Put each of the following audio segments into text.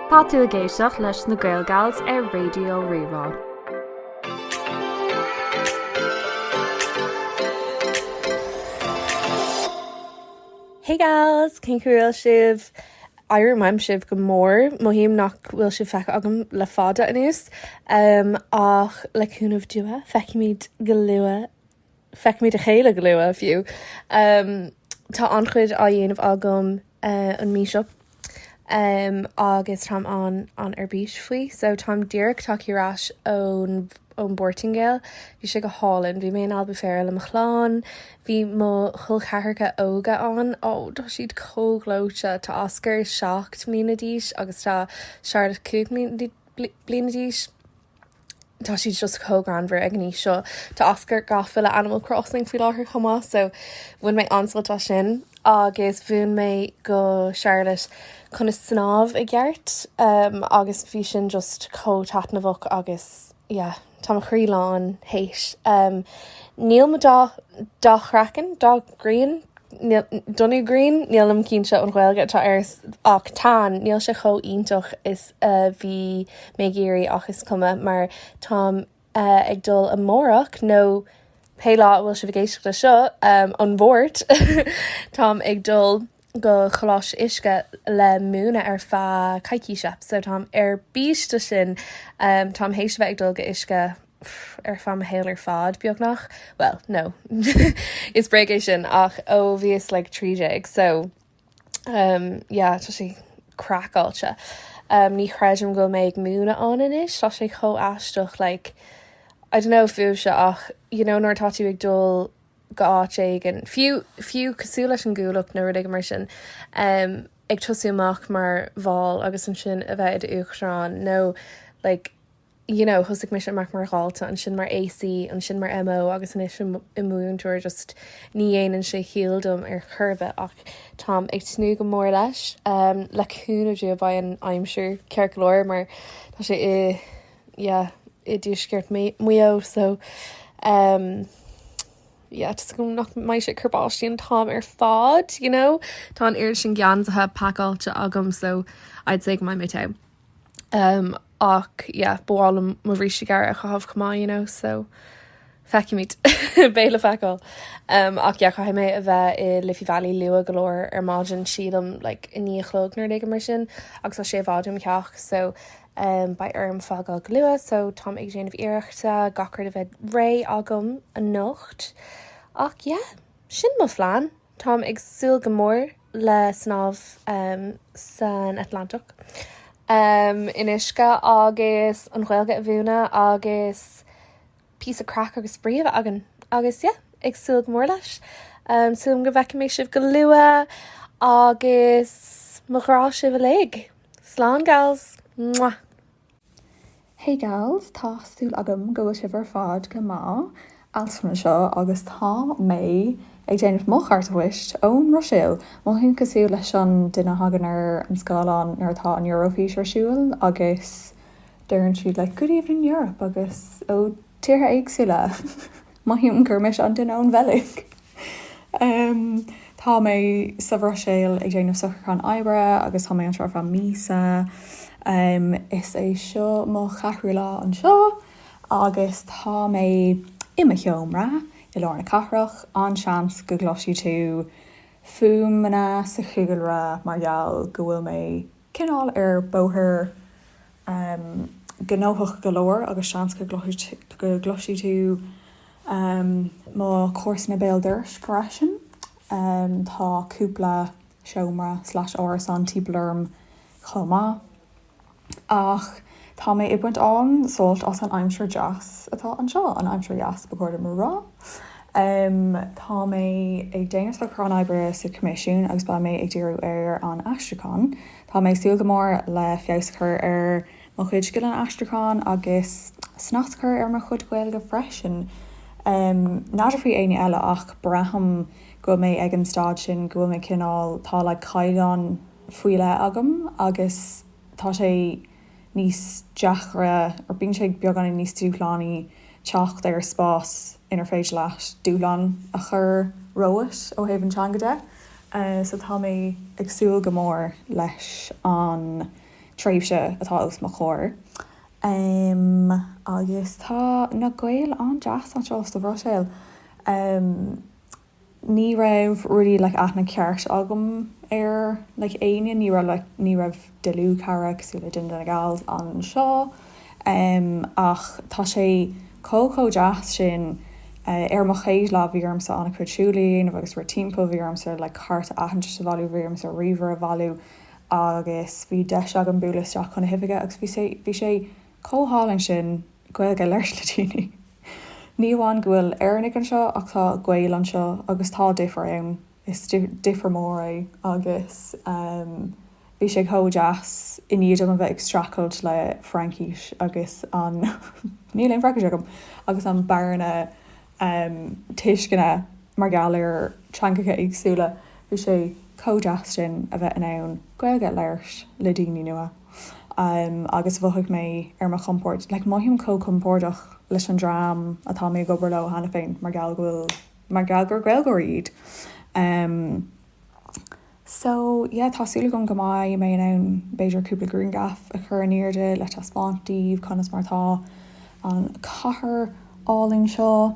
Tá tú ag éisteacht leis na GaelGals ar Raidió Rí-Rá. Hey gals! Cén chaoi a bhfuil sibh? Airím uaim sibh go mór. Mothaím nach bhfuil sibh feicthe agam le fada anuas, ach le cúnamh Dia feicfimid go luath feicfimid a chéile go luath, fiú. Tá an-chuid á dhéanamh agam an mhí seo agus táim an- an-ar bís faoi. So táim díreach tagtha ar ais ón bPortaingéil. Bhí sé go hálainn. Bhí mé in Albufeira le mo chlann. Bhí mo chol ceathracha óga ann. Ó, tá siad chomh gleoite. Tá Oscar seacht mbliana d'aois agus tá Charlotte cúig mbliana d'aois. tá siad just chomh greannmhar ag an aois seo. Tá Oscar gafa le Animal Crossing faoi láthair chomh maith so bhain mé an-sult as sin agus mhúin mé go Charlotte conas snámh i gceart agus bhí sin just chomh taitneamhach agus yeah tá mo chroí lán théis. Níl mo dath chraiceann, dath grian? donú grian, nílim cinnte an Ghaeilge atá air ach tan, níl sé chomh iontach is a bhí mé ag iarraidh ach is cuma mar táim ag dul amárach nó pé lá a bhfuil sibh ag éisteacht le seo an Mháirt táim ag dul go Choláiste Uisce le múineadh ar feadh coicíse so táim ar bís de sin. Táim théis a bheith ag dul go Uisce. ar feadh mo shaoil ar fad, beagnach. Bhuel, no, is bréag é sin ach ó bhíos like trí déag so umm yeah tá sé craiceáilte. Umm ní chreidim go mbeidh mé ag múineadh ann anois, tá sé chomh aisteach like I don't know fiú sé ach you know nuair atá tú ag dul go áit éigin, fiú fiú cosúil leis an gcuallacht nó rud éigin mar sin umm ag tosú amach mar bhall agus ansin a bheith i d'Uachtarán nó like you know, thosaigh mise amach mar dhalta, ansin mar AC, ansin mar MO agus anois im mhúinteoir, just ní dhéanann sé chiall dom ar chor ar bith ach táim ag tnúth go mór leis. Umm, le cúnamh Dia beidh an aimsir ceart go leor mar tá sé i, yeah, i dtuaisceart Maigh Eo so, umm, yeah, just go nach mbeidh sé ag cur báistí an t-am ar fad, you know. Tá an oiread sin geansaithe, pacáilte agam so I'd say go mbeidh mé togha. ach yeah ba mhaith liom mo bhrístí gearra a chaitheamh chomh maith you know so feicimid beidh le feiceáil ach yeah caithfidh mé a bheith i Liffey Valley luath go leor ar maidin sílim like a naoi a chlog nó rud éigin mar sin agus tá sé i bhfad óm theach so beidh orm fágáil go luath so táim ag déanamh iarrachta gach rud a bheith réidh agam anocht ach yeah sin mo phlean. Táim ag súil go mór le snámh san Atlantach in uisce agus an Ghaeilge a mhúineadh agus píosa craic agus spraoi a bheith againn agus yeah ag súil go mór leis. Súil agam go bhfeicfidh mé sibh go luath agus mo ghrá sibh uilig. Slán gals! Mwah! Hey gals, tá súil agam go bhfuil sibh ar fad go maith. Altan anseo agus tá mé ag déanamh mo chárta phoist ón mBruiséil. Mothaím cosúil leis an duine a thagann ar an scáileán nuair atá an Eurofís ar siúil agus deireann siad like, good evening Europe agus ó tíortha éagsúla! Mothaím gur mise an duine ón Bheilg. Tá mé sa Bhruiséil ag déanamh socrúchán oibre agus tá mé anseo ar feadh míosa. Is é seo mo cheathrú lá anseo agus tá mé i mo sheomra i lár na cathrach. An-seans go gcloisfidh tú fuaimeanna sa chúlra mar gheall go bhfuil mé Cineál ar bóthar gnóthach go leor agus seans go gcloisfidh tú mo chomharsana béal dorais freisin. Tá cúpla seomra slash árasán timpeall orm chomh maith ach. Tá mé ag baint an-sult as an aimsir deas atá anseo, an aimsir dheas ba chóir dom a rá. Tá mé ag déanamh socrúcháin oibre sa Choimisiún agus beidh mé ag díriú ar an aistriúchán. Tá mé ag súil go mór le feabhas a chur ar mo chuid scileanna aistriúcháin agus snas a chur ar mo chuid Gaeilge freisin. N'fheadar faoi éinne eile ach braithim go bhfuil mé ag an staid sin go bhfuil mé cineál, tá like caighdeán faoi leith agam agus. tá sé níos deacra, or bíonn sé beagáinín níos dúshlánaí teacht ar spás inar féidir leat dúshlán a chur romhat ó thaobh an teanga de. So tá mé ag súil go mór leis an tréimhse atá os mo chomhair. Agus tá na Gaeil an-deas anseo sa Bhruiséil. ní raibh really like aithne ceart agam ar like éinne, ní raibh like, ní raibh dlúthchara cosúil le duine de na gals anseo em ach tá siad chomh, chomh deas sin eh ar mo chéad lá bhí ormsa an-chuid siúil a dhéanamh agus rith timpeall, bhí ormsa like cárta aitheantais a bhailiú, bhí ormsa ríomhaire a bhailiú agus bhí deis agam bualadh isteach chun na hoifige agus bhí sé, bhí sé chomh hálainn sin. Gaeilge a labhairt le daoine. Ní amháin go bhfuil Éireannaigh anseo ach tá Gaeil anseo agus tá difear ann, is difear mór é agus bhí sé chomh deas i ndiaidh dom a bheith ag streachailt le Fraincis agus an, níl aon Fraincis agam! agus an bearna tuisceana mar gheall ar theangacha éagsúla, bhí sé chomh deas sin a bheith in ann Gaeilge a labhairt le daoine nua. agus mhothaigh mé ar mo chompord. Like, mothaím chomh compordach leis an dream atá mé ag obair leo cheana féin mar gheall go bhfuil, mar gheall gur Gaeilgeoirí iad. So, yeah, tá súil agam go mbeidh mé in ann b'fhéidir cúpla grianghraf a chur in airde le taispeáint daoibh conas mar atá an chathair álainn seo.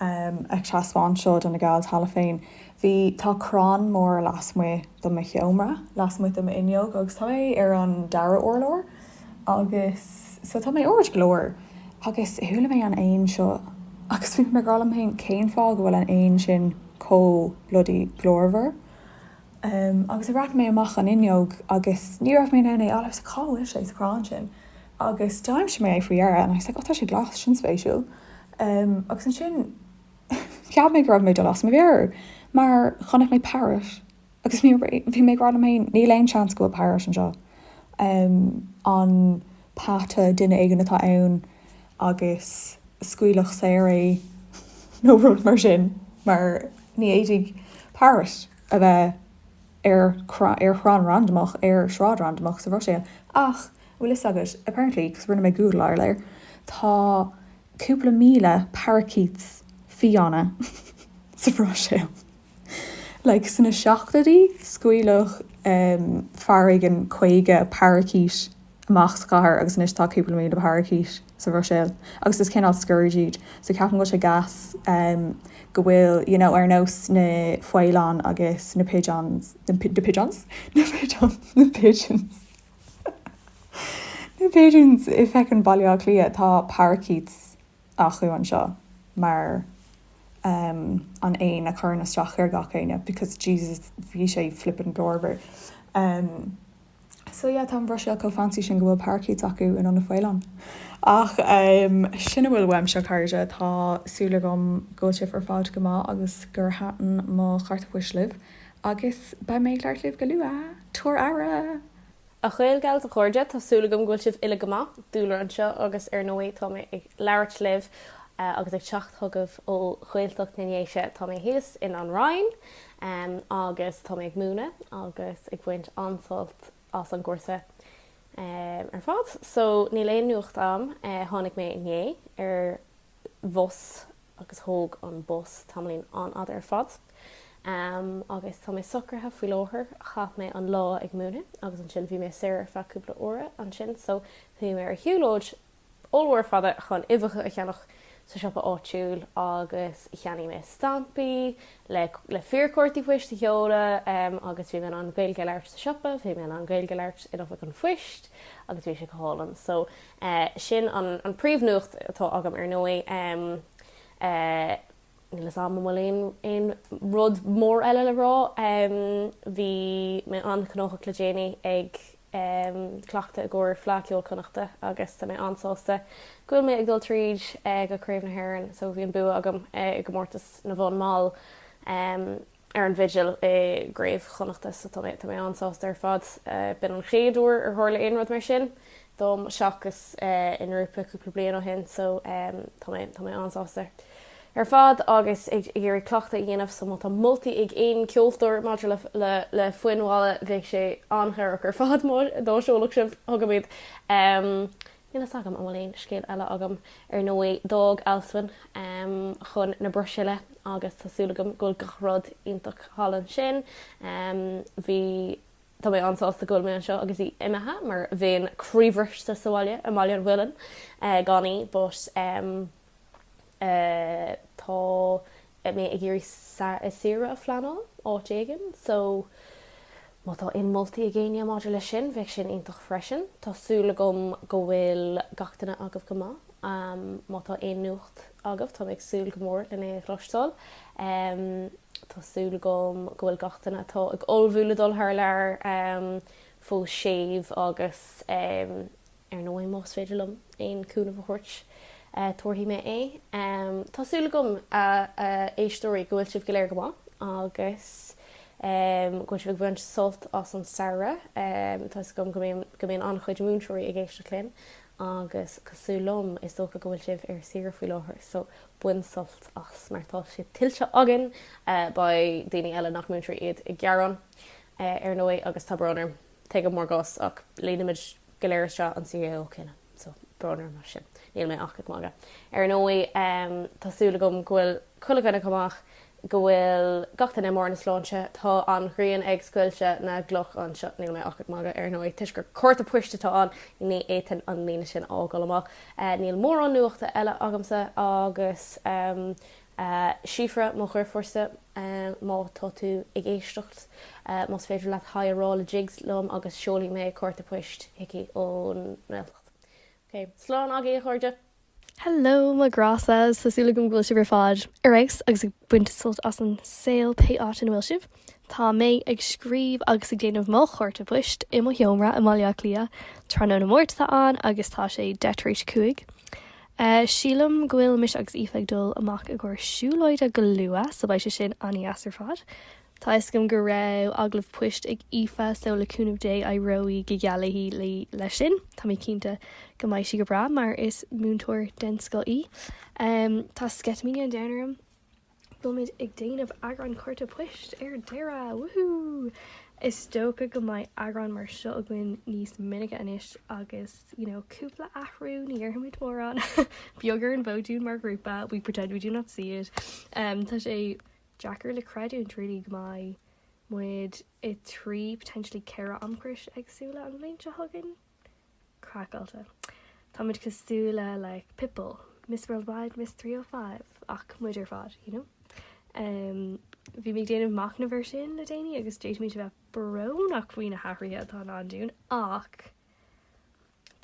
Ag taispeáint seo do na gals cheana féin, bhí, tá crann mór lasmuigh de mo sheomra, lasmuigh de m'fhuinneog agus tá mé ar an dara urlár agus so tá mé ard go leor agus chuala mé an éan seo agus bhí mé ag rá liom féin cén fáth go bhfuil an éan sin chomh bloody glórmhar agus bhreathnaigh mé amach an fhuinneog agus ní raibh mé in ann é a fháil, so cá bhfuil sé sa chrann sin? Agus d'aimsigh mé é faoi dheireadh and I was like oh tá sé glas, sin spéisiúil. Agus ansin cheap mé go raibh mé ag dul as mo mheabhair mar chonaic mé parrot agus bhí mé ag rá liom féin níl aon seans go bhfuil parrot anseo. An peata, duine éigin atá ann agus scaoileadh saor é nó rud mar sin mar ní fhéadfadh parrot a bheith ar chrann randamach ar shráid randamach sa Bhruiséil ach Bhfuil fhios agat, apparently, because rinne mé Google aréir, tá cúpla míle parakeet fiáine sa Bhruiséil. Like, sna seachtóidí, scaoileadh fear éigin 50 parakeet amach sa chathair agus anois tá cúpla míle parakeet sa Bhruiséil agus is cineál scourge iad. So ceapaim go bhfuil sé gas go bhfuil, you know, ar nós na faoileáin agus na pigeons, na pigeons? na pigeons, na pigeons. Na Pigeons i Feckin Baile Átha Cliath, tá parakeets acu anseo mar ehm an éan a chuireann isteach ar gach éinne because Jesus bhí sé flippin glórmhar ehm so yeah tá an Bhruiséil chomh fancy sin go bhfuil parakeets acu in ionad na bhfaoileán ach ehm sin a bhfuil uaimse a chairde tá súil agam go bhfuil sibh ar fad go maith agus gur thaitin mo chárta phoist libh. Agus beidh mé ag labhairt libh go luath. Tabhair aire! A Ghaelgals, a chairde, tá súil agam go bhfuil sibh uile go maith, Dúlra anseo, agus ar ndóigh tá mé ag labhairt libh agus ag teacht chugaibh ó Ghaeltacht na nDéise. Tá mé thíos in An Roinn agus tá mé ag múineadh agus ag baint an-sult as an gcúrsa ar fad so níl aon nuacht a'm. Tháinig mé inné ar bhus agus thóg an bus tamaillín an-fhada ar fad agus tá mé socraithe faoi láthair, chaith mé an lá ag múineadh agus ansin bhí mé saor ar feadh cúpla uaire ansin so bhí mé ar shiúlóid ollmhór fada chun uibheacha a cheannach sa siopa áitiúil agus cheannaigh mé stampaí le fíorchártaí poist a sheoladh agus bhí mé in ann Gaeilge a labhairt sa siopa, bhí mé in ann Gaeilge a labhairt in oifig an phoist agus bhí sé go hálainn so. sin an príomhnuacht atá agam ar ndóigh níl fhios agam an bhfuil aon rud mór eile le rá bhí mé an-ghnóthach le déanaí ag cleachtadh i gcomhair Fleadh Ceoil Chonnachta agus tá mé an-sásta go bhfuil mé ag dul tríd go Craobh na hÉireann so bhí an bua agam i gcomórtas na bhfonn mall. ar an bhfidil i gCraobh Chonnachta so tá mé an-sásta ar fad. B'in an chéad uair ar tharla aon rud mar sin dom seachas i ngrúpa cúpla bliain ó shin so tá mé an-sásta ar fad agus ag iarraidh cleachtadh a dhéanamh so má tá moltaí ag aon cheoltóir maidir le foinn mhalla bheadh sé an-chabhrach ar fad dá seolfadh sibh chugam iad. Níl fhios agam an bhfuil aon scéal eile agam. Ar ndóigh, d'fhág Alswyn chun na Bruiséile agus tá súil agam go bhfuil gach rud iontach thall ansin. Bhí, tá mé an-sásta go bhfuil mé anseo agus í imithe mar bheinn croíbhriste sa bhaile i mBaile an Mhuilinn gan í but, Tá mé ag iarraidh saoire a phleanáil áit éigin so má tá aon moltaí ag éinne maidir leis sin, bheadh sin iontach freisin. Tá súil agam go bhfuil gach duine agaibh go maith. Má tá aon nuacht agaibh, tá mé ag súil go mór lena chloisteáil. Tá súil agam go bhfuil gach duine atá ag ullmhú le dul thar lear fós séimh agus. Ar ndóigh, más féidir liom aon chúnamh a thabhairt, tabharfaidh mé é. Tá súil agam, a éisteoirí, go bhfuil sibh go léir go maith agus go bhfuil sibh ag baint sult as an samhradh. Tá fhios agam go mbíonn an-chuid múinteoirí ag éisteacht linn agus cosúil liom, is dócha go bhfuil sibh ar saoire faoi láthair so bain sult as mar tá sé tuillte againn. Beidh daoine eile nach múinteoirí iad ag gearán, ar ndóigh, agus tá brón orm. Tuigim bhur gcás ach leanfaimid. go léir seo an CAO cinneadh. So, brón orm mar sin. Níl mé ach ag magadh. Ar ndóigh, tá súil agam go bhfuil chuile dhuine go maith, go bhfuil gach duine i mbarr na sláinte. Tá an ghrian ag scoilteadh na gcloch anseo. Níl mé ach ag magadh, ar ndóigh, toisc gur cárta poist atá ann, ní fhéadfainn an líne sin a fhágáil amach. Níl mórán nuachta eile agamsa agus. Síofra, mo dheirfiúrsa, má tá tú ag éisteacht, más féidir leat 'haigh' a rá le Jigs liom agus seolfaidh mé cárta poist chuici ón nGaeltacht. Ok. Slán agaibh, a chairde! Hello, mo ghrása! Tá súil agam go bhfuil sibh ar fad ar fheabhas agus ag baint sult as an saol pé áit ina bhfuil sibh. Tá mé ag scríobh agus ag déanamh mo chárta poist i mo sheomra i mBaile Átha Cliath. Tráthnóna Máirt atá ann agus tá sé deich tar éis a cúig. Ahh, sílim go bhfuil mise agus Aoife ag dul amach i gcomhair siúlóide go luath, so beidh sé sin an-deas ar fad. Tá 'fhios agam go raibh agallamh poist ag Aoife, so le cúnamh Dé éireoidh go geal léi leis sin. Tá mé cinnte go mbeidh sí go breá mar is múinteoir den scoth í. Ahh, tá sceitimíní an domhain orm! Táimid ag déanamh eagrán Cárta Poist ar deireadh! Woohoo! Is dócha go mbeidh eagrán mar seo againn níos minice anois agus you know cúpla athrú ní dhéarfaimid mór ná beag ar an bhfód dúinn mar ghrúpa, we pretend we do not see it. Um tá sé deacair le creidiúint really go mbeidh muid i dtrí, potentially ceithre amchrios éagsúla an bhliain seo chugainn. craiceáilte. Táimid cosúil le Pitbull, Miss Worldwide, Miss 305, ach muid ar fad, you know. Bhí mé ag déanamh machnaimh air sin le déanaí agus d'fhéadfaimis a bheith brónach faoi na hathruithe atá i ndán dúinn ach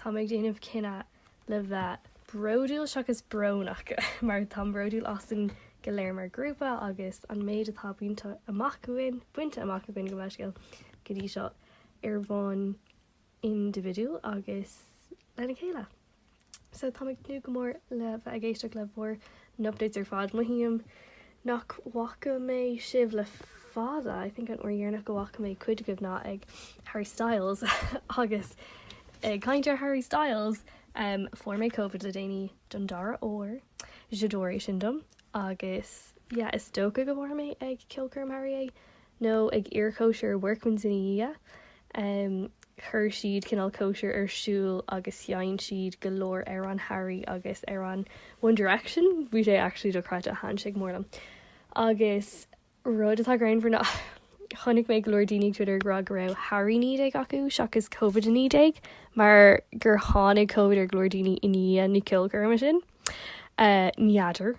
tá mé ag déanamh cinneadh le bheith bródúil seachas brónach mar táim bródúil asainn go léir mar ghrúpa agus an méid atá bainte amach againn gabh mo leithscéal, go dtí seo ar bhonn individual agus lena chéile. So tá mé ag tnúth go mór le bheith ag éisteacht le bhur n-updates ar fad. Mothaím nach bhfaca mé sibh le fada. I think an uair dheireanach go bhfaca mé cuid agaibh ná ag Harry Styles agus ag caint ar Harry Styles um fuair mé Covid le déanaí don dara huair. J'adore é sin dom agus yeah is dócha go bhfuair mé ag ceolchoirm Harry é nó ag iarchóisir Workman's ina dhiaidh, chuir siad cineál cóisir ar siúl agus sheinn siad go leor amhráin Harry agus amhráin One Direction, bhí sé actually dochreidte, thaitin sé go mór liom agus rud atá greannmhar ná chonaic mé go leor daoine ag Twitter ag rá go raibh Harry 19 acu seachas Covid 19 mar gur tháinig Covid ar go leor daoine i ndiaidh na ceolchoirme sin. N'fheadar.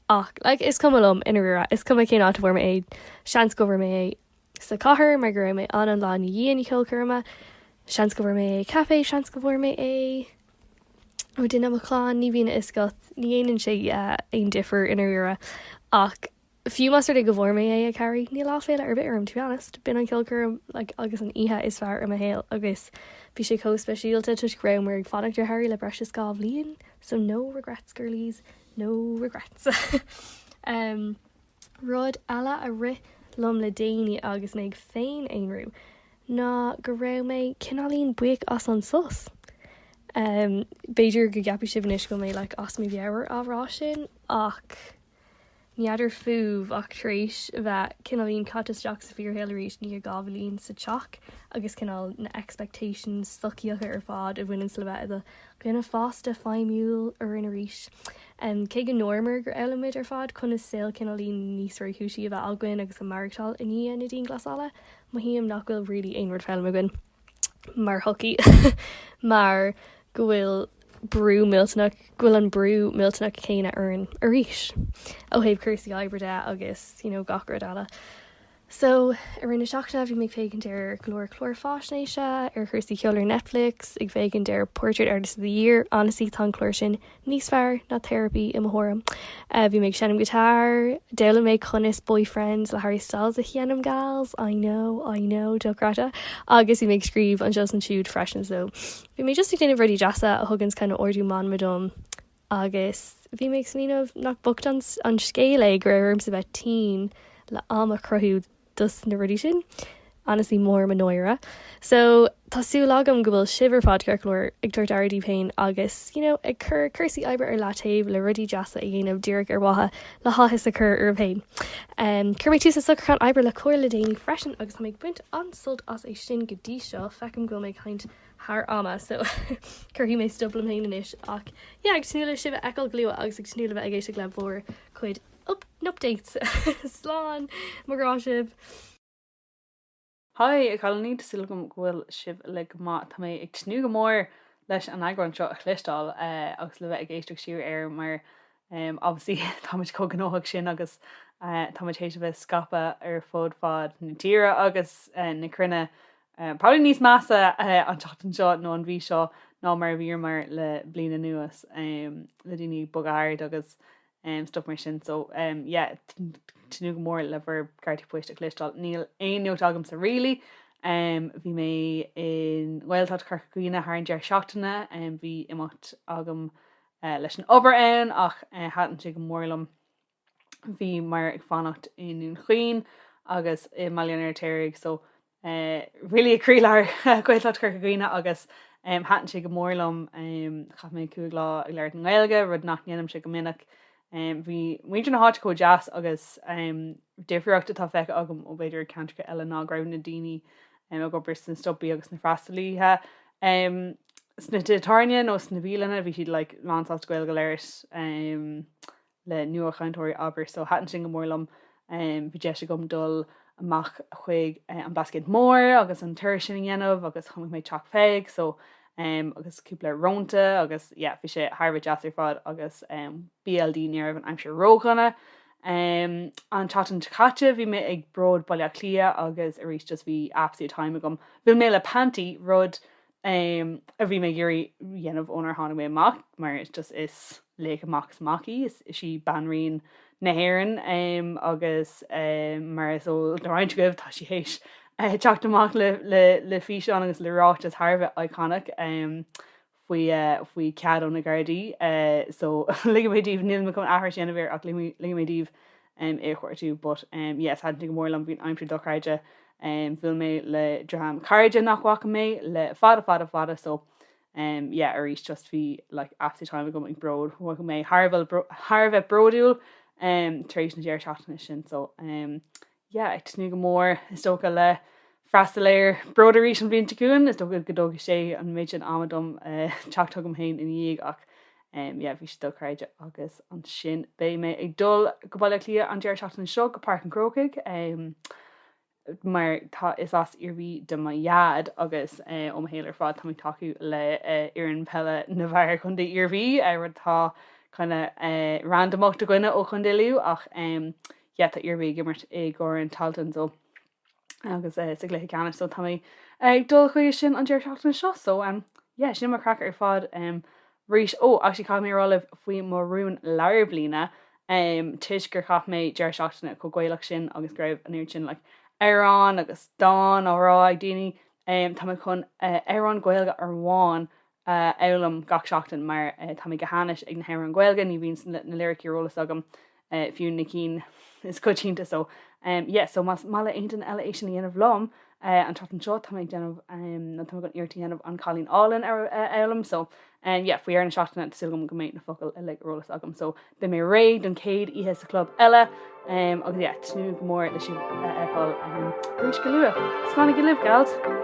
ach like is cuma liom i ndáiríre, is cuma cén áit a bhfuair mé é, seans go bhfuair mé é sa chathair mar go raibh mé ann an lá i ndiaidh na ceolchoirme, seans go bhfuair mé é ag caifé, seans go bhfuair mé é ó duine i mo chlann, ní bhíonn a fhios agat, ní dhéanann sé aon difear i ndáiríre ach fiú más rud é go bhfuair mé é ag Harry, níl aiféala ar bith orm to be honest, b'in an ceolchoirm like agus an oíche is fearr i mo shaol agus bhí sé chomh speisialta toisc go raibh mé ag fanacht ar Harry le breis is dhá bhliain so no regrets girlies. No regrets. Rud eile a rith liom le déanaí agus mé ag féin-aonrú ná go raibh mé cineáilín buíoch as an sos. B'fhéidir go gceapfaidh sibh anois go bhfuil mé like as mo mheabhair á rá sin ach n'fheadar fúibh ach tar éis a bheith cineáilín caite isteach sa bhfíorshaol arís i ndiaidh dhá bhliain sa teach agus cineál na expectations sochaíocha ar fad a bhaineanns le bheith i do dhuine fásta, feidhmiúil orainn arís. Cé go ndúramar gur fhoghlaim muid ar fad conas saol cineáilín níos réchúisí a bheith againn agus a maireachtáil i ndiaidh na dianghlasála, mothaím nach bhfuil really aon rud foghlamtha againn mar shochaí mar go bhfuil brú millteanach, go bhfuil an brú millteanach céanna orainn arís ó thaobh cúrsaí oibre de agus you know gach rud eile. So, i rith na seachtaine bhí mé ag féachaint ar go leor cláir faisnéise ar chúrsaí ceoil ar Netflix, ag féachaint ar Portrait Artist of the Year, Honestly tá an clár sin níos fearr ná Therapy i mo thuairim. Bhí mé ag seinm guitar, d'fhoghlaim mé conas Boyfriends le Harry Styles a sheinm gals, I know, I know, deocráite, agus bhí mé ag scríobh anseo is ansiúd freisin so bhí mé just ag déanamh rudaí deasa a thuganns kind of ardú meanma dom. Agus bhí mé ag smaoineamh nach bocht an scéal é go raibh ormsa bheith tinn le am a chruthú dos na rudaí sin. Honestly mór mo náire. So, tá súil agam go bhfuil sibh ar fad, ceart go leor, ag tabhairt aire daoibh féin agus, you know, ag cur cúrsaí oibre ar leataobh le rudaí deasa a dhéanamh díreach ar mhaithe le háthas a chur oraibh féin. Um, chuir mé tús le socrúchán oibre le Comhar le déanaí freisin agus tá mé ag baint an-sult as é sin go dtí seo, feicim go bhfuil mé ag caint thar ama so cuirfidh mé stop liom féin anois ach yeah ag tnúth le sibh a fheiceáil go luath agus ag tnúth le bheith ag éisteacht le bhur cuid updates slán mo ghrá sibh. Hi, a chailíní, tá súil agam go bhfuil sibh uilig go maith. Tá mé ag tnúth go mór leis an eagrán seo a chloisteáil agus le bheith ag éisteacht siar air mar obviously táimid chomh gnóthach sin agus táimid théis a bheith scaipthe ar fud fad na tíre agus na cruinne Probably níos measa an tseachtain seo nó an mhí seo ná mar a bhíomar le bliain anuas le daoine ag bogadh thart agus stuff mar sin so yeah tnúth go mór le bhur gcártaí poist a chloisteáil. Níl aon nuacht agamsa really. Bhí mé i nGaeltacht Chorca Dhuibhne thar an deireadh seachtaine, bhí imeacht agam leis an obair ann ach thaitin sé go mór liom bhíomar ag fanacht i nDún Chaoin agus i mBaile an Fheirtéaraigh so eh, really i gcroílár Gaeltacht Chorca Dhuibhne agus em, thaitin sé go mór liom em, chaith mé cúig lá ag labhairt na Gaeilge rud nach ndéanaimse go minic em, bhí muintir na háite chomh deas agus em, difríocht atá feicthe agam ó b'fhéidir ceantracha eile ná go raibh na daoine em, ag obair sna stopaí agus na freastalaithe em, sna tithe tábhairne nó sna bialanna bhí siad like, lánsásta Gaeilge a labhairt em, le nuachainteoirí abair so thaitin sin go mór liom. Bhí deis agam dul amach chuig an Blascaod Mór agus an tour sin a dhéanamh agus chonaic mé Teach Pheig so agus cúpla rónta agus yeah bhí sé thar a bheith deas ar fad agus BLD ní raibh an aimsir ródhona. An tseachtain seo caite bhí mé ag Bród Baile Átha Cliath agus arís just bhí absolute time agam. Bhuail mé le Panti, rud um, a bhí mé ag iarraidh a dhéanamh ónar tháinig mé amach mar is just is laoch amach is amach í, is is í Banríon na hÉireann um, agus um, mar is eol do roinnt agaibh tá sí théis uh, teacht amach le, le, le físeán agus le ráiteas thar a bheith iconic um, faoi, uh, faoi cead ó na Gardaí uh, so ligfidh mé daoibh, níl mé chun aithris a dhéanamh air ach ligfidh, ligfidh mé daoibh é a chuartú but yes thaitin sé go mór liom bhí an aimsir dochreidte bhuail mé le dream cairde nach bhfaca mé le fada fada fada so yeah arís just bhí like absolute time agam ag Bród mhothaigh mé thar a bheith bródúil tar éis na deireadh seachtaine sin so yeah ag tnúth go mór is dócha le freastal ar Bród arís an bhliain seo chugainn. Is dócha go dtógfaidh sé an méid sin ama dom teacht chugam féin ina dhiaidh ach yeah bhí sé dochreidte agus ansin beidh mé ag dul go Baile Átha Cliath an deireadh seachtaine seo go Páirc an Chrócaigh mar tá is as Iarmhí do mo Dhaid agus ó mo shaol ar fad tá mé ag tacú le fhoireann peile na bhfear Chontae Iarmhí rud atá kind of randamach do dhuine ó Chontae Lú ach yeah tá Iarmhí ag imirt i gCorn Tailteann so agus eh sa gcluiche ceannais so tá mé ag dul chuige sin an deireadh seachtaine seo so em yeah sin mo chraic ar fad em arís. Ó actually caithfidh mé a rá libh faoi mo rún lár bliana em toisc gur chaith mé deireadh seachtaine chomh gaelach sin agus go raibh an oiread sin like amhráin agus dán á rá ag daoine em tá mé chun eh amhrán Gaeilge amháin a fhoghlaim gach seachtain mar tá mé go hainnis ag na hamhráin Ghaeilge, ní bhíonn na liricí ar eolas agam, fiú na cinn is coitianta, so yeah, so más maith le héinne eile é sin a dhéanamh liom an tseachtain seo, tá mé ag déanamh, nó tá mé chun iarracht a dhéanamh An Cailín Álainn a fhoghlaim, so yeah, faoi dheireadh na seachtaine, tá súil agam go mbeidh na focail uilig ar eolas agam, so. Beidh mé réidh don chéad oíche sa chlub eile agus yeah, tnúth go mór leis sibh a fheiceáil arís go luath. Slán libh, gals!